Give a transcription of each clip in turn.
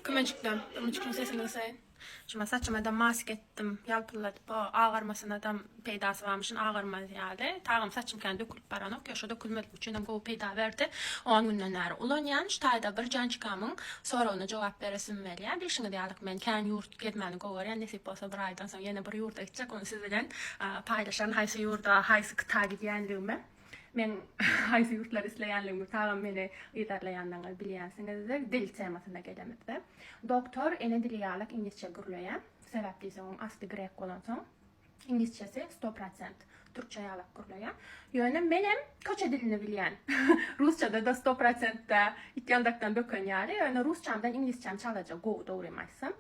Kiminjikler, durmujykyň sesini gysaýyn. Şuma saçymada mask etdim, ýalpylladyp o agarmasynadam peýdasy barmyşyn agarmaz ýaly. Tagam saçym kän dökülip baranok, ýögşe dökülmezlik üçinem gowy peýda berdi. On günden bäri ulanýan. Şu taýda bir jançkamyň soragyna jogap beresim belýär. Bilşiňiz ýalyk men kän ýurt gezmäni gowy görýän, nesip bolsa bir aýdan soň ýene bir ýurda gitjek, ony siz bilen paýlaşaryn haýsy ýurda, haýsy kita gidýänligimi. Men haýsy ýurtlary isleýänligimi tagam meni yzarlaýanlaryňyz bilýänsiňizdir. Dil temasyna gelemizde, Doktor ene dili ýalak iňlisçe gürleýär. Sebäp diýseň oň asly grek bolansoň, iňlisçesi sto prosent türkçe ýalak gürleýär. Ýöne menem köçe dilini bilýän. Rusçada-da sto prosent-de itýandakdan böken ýaly, ýöne rusçamdan iňlisçäm çalaja gowy dogrymy aýtsam.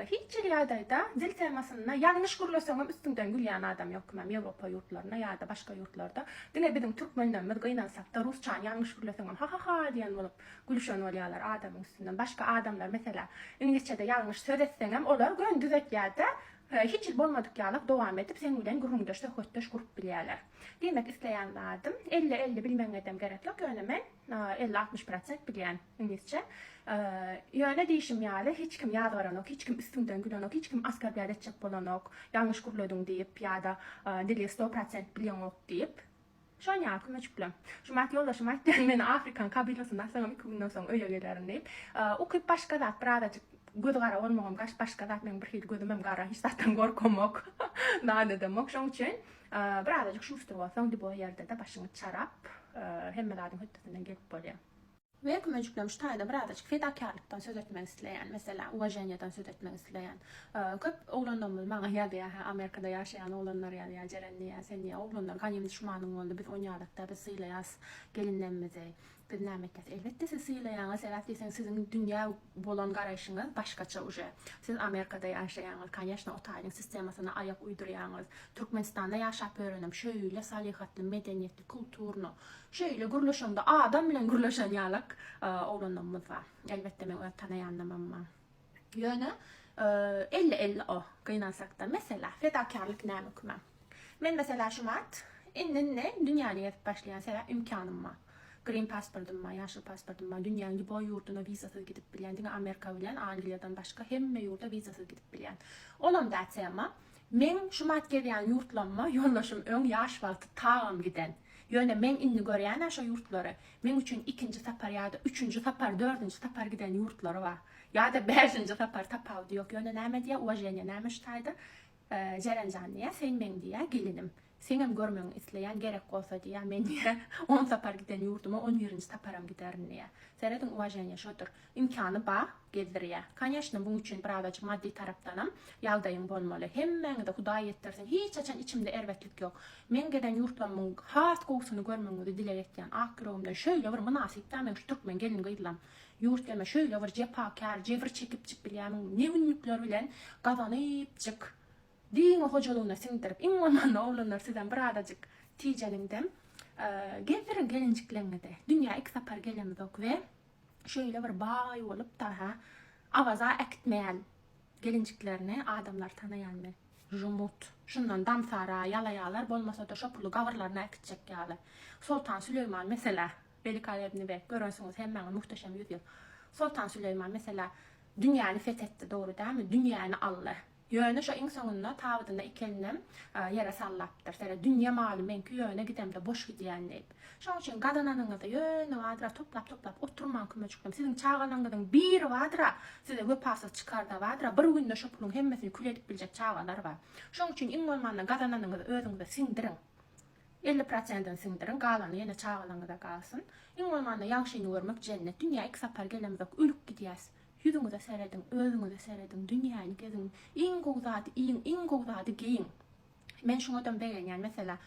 Hiç hili ýagdaýda dil temasynda ýalňyş gürleseňem üstüňden gülýän adam ýok kimem ýewropa ýurtlarynda ýada başga ýurtlarda diňe biziň türkmenlerimiz gynansakda rusçany ýalňyş gürleseňem hahaha diýen bolup gülüşen bolýalar adamyň üstünden başga adamlar meselä iňlisçede ýalňyş söz etseňem olar göni düzetýärde hiç hili bolmadyk ýalak dowam edip seň bilen gürrüňdeş söhbetdeş gurup bilýäler diýmek isleýän zadym elli elli bilmegiňedem gerek ýok ýöne men Elli-altmyş prosent bilýän iňlisçe. Ýöne diýşim ýaly, hiç kim ýazgaranok, hiç kim üstüňden gülenok, hiç kim askarblýat etjek bolanok, ýalňyş gürlediň diýip ýa-da dili sto prosent bilýäňok diýip. Şon ýaly kömeçiklem. Jumat ýoldaşym aýtdy, men afrikan kabylasyny atsaňam iki günden soň öýe gelerin diýip. Ukyp başga zat, birazajyk gözi gara bolmagam başga zat, meniň birhili gözümem gara, hiç zatdan gorkamok, nanedemok. Şoň üçin Bir azajyk şuşdur bolsaň dibo ýerde-de başyňy çarap, hemme zadyň hötdesinden gelip bolýar. We kümejikleň şu taýda bir azajyk fedakärlikden söz etmek isleýän, meselä, uwaženiýadan söz etmek isleýän. Köp oglanlarymyz maňa ýazýar, hä, Amerikada ýaşaýan oglanlar ýazýar, Jeren diýýär, sen diýýär, oglanlar ganym düşmanyň boldy, biz oýnaýalyk-da, biz sylaýas gelinlerimizi. Biz näme etjäs? Elbetde siz sylaýaňyz sebäp diýseň siziň dünýä bolan garaýşyňyz başgaça uje. Siz Amerikada ýaşaýaňyz, konýeçno o taýyň sistemasyna aýak uýdurýaňyz. Türkmenistanda ýaşap örenem şeýle salyhatly, medeniýetli, kulturno, şeýle gürleşeňde adam bilen gürleşen ýalak oglanlarymyz bar. Elbetde men öz tanaýanlamam bar. Ýöne, elli elli o, gynansakda. Meselä, fedakärlik näme kime? Men, meselä, şu mart, indi-indi dünýäni gezip başlaýan, sebäp ymkanym bar. Green pasportym bar, ýaşyl pasportym bar, dünýäň lýuboý ýurduna wizasyz gidip bilýän, diňe Amerika bilen Angliýadan başga hemme ýurda wizasyz gidip bilýän. Olam dä tema. Meň şu mart gezýän ýurtlaryma ýoldaşym öň ýaş wagty tagam giden. Ýöne meň indi görýän-ä şo ýurtlary, meň üçin ikinji sapar ýa-da üçünji sapar, dördünji sapar giden ýurtlary bar. Ýa-da bäşinji sapar, tapawudy ýok. Ýöne näme diýýä, uwaženýe näme şu taýda, Jeren jan diýýä, sen meň diýýä, gelinim. Seňem görmegiňi isleýän, gerek bolsa diýýä, men diýýä, on sapar giden ýurduma on birinji saparam giderin diýýä. Serediň, uwaženýe şodur. Imkany bar, gezdirýä. Koneşno, muň üçin birazajyk maddy tarapdanam ýagdaýyň bolmaly. Hemmäňize Hudaý ýetdirsin, hiç haçan içimde erbetlik ýok. Meň gezen ýurtlarymyň has gowusyny görmegiňizi dileg etýän. Ak ýüregimden şöýle bir mynasypda meň şu türkmen gelin-gyzlam. Ýurtgeme şöýle bir jepakär, jebir çekipjik bilýämiň, ne günlükler bilen gazanypjyk. Diňe hojalygyna siňdirip, iň bolmanda oglanlar sizem birazajyk tijeniňdem gezdiriň gelinjikleňňizi. Dünýä iki sapar gelemizok we Şeýle bir baý bolupdyr-ha. Awaza äkitmeýän gelinjiklerini adamlar tanaýanmy? Jumut. Şundan damsara, ýalaýalar, bolmasa-da şo puly gabyrlaryna äkitjek ýaly. Soltan Süleýman, meselä, Welikaýebni beg, görensiňiz hemmäňiz Muhteşem ýüz ýyl. Soltan Süleýman, meselä, dünýäni feth etdi, dogry dälmi? Dünýäni aldy. Ýöne şo iň soňunda tabydyna iki elinem ýere sallapdyr. Seret, dünýe maly meňki ýöne gidemde boş gidýän diýip. Şoň üçin gazananyňyzy ýöne badyra toplap-toplap oturmaň kömejiklerim. Siziň çagalaňyzyň biri badyra size wepasyz çykarda badyra bir günde şo puluň hemmesini kül edip biljek çagalar bar. Şoň üçin iň bolmanda gazananyňyzy özüňize siňdiriň. Elli prosentini siňdiriň, galany ýene çagalaňyza galsyn. Iň bolmanda ýagşyny görmek jennet. Dünýä iki sapar gelemzok, ölüp gidýäs. Ýüzüňize serediň, özüňize serediň, dünýäni geziň, iň gowy zady iýiň, iň gowy zady geýiň. Men şuňadam begenýän, meselä,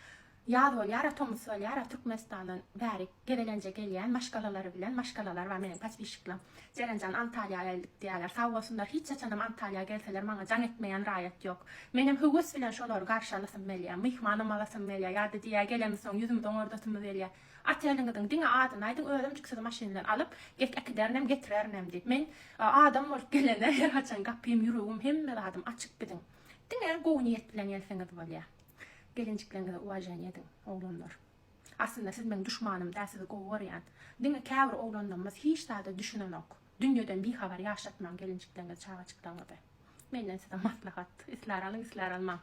ýaz bolýar-a, tomus bolýar-a, Türkmenistandan bäri gezelenje gelýän maşgalalary bilen, maşgalalar bar meniň podpişiklerim. Jerenjan, Antalýa geldik diýýärler. Sag bolsunlar, hiç haçanam Antalýa gelseler maňa jaň etmeýän raýat ýok. Menem höwes bilen şolary garşy alasym gelýär, myhmanam alasym gelýär, ýa-da diýýär, gelemisoň ýüzümizi oňardasymy gelýär. Oteliňiziň diňe adyny aýdyň, özümjik sizi maşyn bilen alyp, get äkiderinem, getirerinem diýip. Men adam bolup gelene her haçan gapym, ýüregim, hemme zadym açyk biziň. Diňe gowy niýet bilen gelseňiz bolýa. Gelinjikleriňize uwaženiýe ediň, oglanlar. Aslynda siz meň duşmanym däl, sizi gowy görýän. Diňe käbir oglanlarymyz hiç zada düşünenok. Dünýeden bihabar ýaşatmaň gelinjikleriňizi, çagajyklaryňyzy. Menden size maslahat. Islär alyň, islär almaň.